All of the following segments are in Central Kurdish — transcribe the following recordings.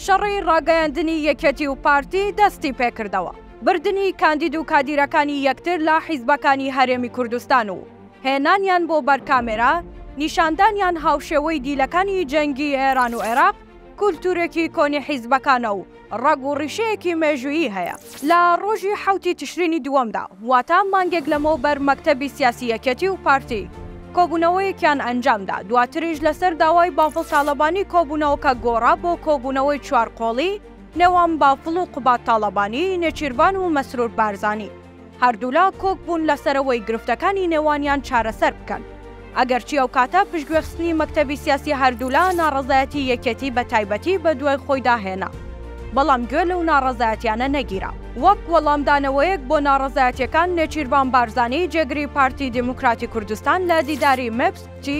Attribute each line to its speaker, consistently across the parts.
Speaker 1: شەڕی ڕاگەیاندنی یەکێتی و پارتی دەستی پێکردەوە، بردنی کاندید و کادیرەکانی یەکتر لە حیزبەکانی هەرێمی کوردستان و هێنانیان بۆ بەر کامێرا، نیشاندانیان هاوشێوەی دیلەکانی جەنگی ئێران و عێراق، کولتوورێکی کۆنی حیزبەکانە و ڕەگ و ڕیشەیەکی مێژوویی هەیە. لە ڕۆژی حەوتی تشرینی دووەمدا، واتە مانگێک لەمەوبەر مەکتەبی سیاسی یەکێتی و پارتی کۆبوونەوەیەکیان ئەنجامدا، دواتریش لەسەر داوای بافڵ تاڵەبانی کۆبوونەوەکە گۆڕا بۆ کۆبوونەوەی چوار قۆڵی نێوان بافڵ و قوباد تاڵەبانی، نێچیرڤان و مەسرور بارزانی، هەردوولا کۆک بوون لەسەرەوەی گرفتەکانی نێوانیان چارەسەر بکەن. ئەگەرچی ئەو کاتە پشتگوێخستنی مەکتەبی سیاسی هەردوولا ناڕەزایەتی یەکێتی بە تایبەتی بە دوای خۆیدا هێنا، بەڵام گوێ لەو ناڕەزایەتیانە نەگیرا. وەک وەڵامدانەوەیەک بۆ ناڕەزایەتیەکان نێچیرڤان بارزانی جێگری پارتی دیموکراتی کوردستان لە دیداری مێپس گوتی،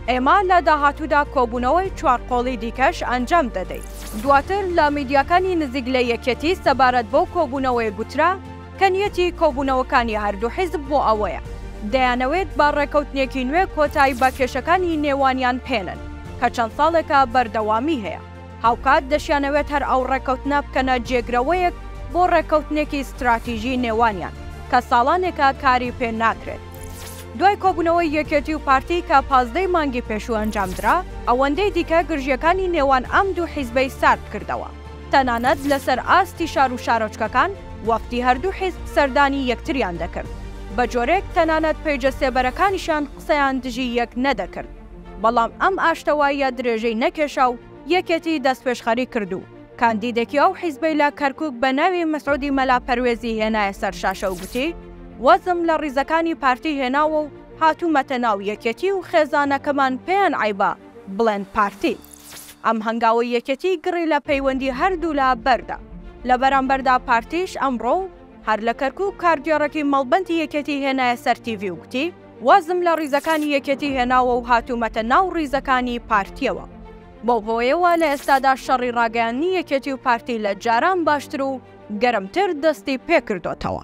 Speaker 1: ئێمە لە داهاتوودا کۆبوونەوەی چوار قۆڵی دیکەش ئەنجام دەدەین. دواتر لە میدیاکانی نزیک لە یەکێتی سەبارەت بەو کۆبوونەوەیە گوترا، کە نیەتی کۆبوونەوەکانی هەردوو حیزب بۆ ئەوەیە دەیانەوێت بە ڕێکەوتنێکی نوێ کۆتایی بە کێشەکانی نێوانیان پێنەن کە چەند ساڵێکە بەردەوامی هەیە، هاوکات دەشیانەوێت هەر ئەو ڕێکەوتنە بکەنە جێگرەوەیەک بۆ ڕێکەوتنێکی ستراتیژی نێوانیان کە ساڵانێکە کاری پێ ناکرێت. دوای کۆبوونەوەی یەکێتی و پارتی کە پازدە ی مانگی پێشوو ئەنجامدرا، ئەوەندەی دیکە گرژییەکانی نێوان ئەم دوو حیزبەی ساردکردەوە. تەنانەت لەسەر ئاستی شار و شارۆچکەکان وەفدی هەردوو حیزب سەردانی یەکتریان دەکرد، بە جۆرێک تەنانەت پەیجە سێبەرەکانیشیان قسەیان دژی یەک نەدەکرد، بەڵام ئەم ئاشتەواییە درێژەی نەکێشا و یەکێتی دەستپێشخەری کرد و کاندیدێکی ئەو حیزبەی لە کەرکوک بە ناوی مسعودی مەلا پەروێزی هێنایە سەر شاشە و گوتی وەزم لە ڕیزەکانی پارتی هێناوە و هاتوومەتە ناو یەکێتی و خێزانەکەمان پێیان عەیبە بڵێن پارتی ئەم هەنگاوەی یەکێتی گڕی لە پەیوەندی هەردوولا بەردا. لە بەرامبەردا پارتیش ئەمڕۆ و هەر لە کەرکووک کارگێڕێکی مەڵبەندی یەکێتی هێنایە سەر تیڤی و گوتی، وازم لە ڕیزەکانی یەکێتی هێناوە و هاتوومەتە ناو ڕیزەکانی پارتییەوە. بەو هۆیەوە لە ئێستادا شەڕی ڕاگەیاندنی یەکێتی و پارتی لە جاران باشتر و گەرمتر دەستی پێ کردۆتەوە.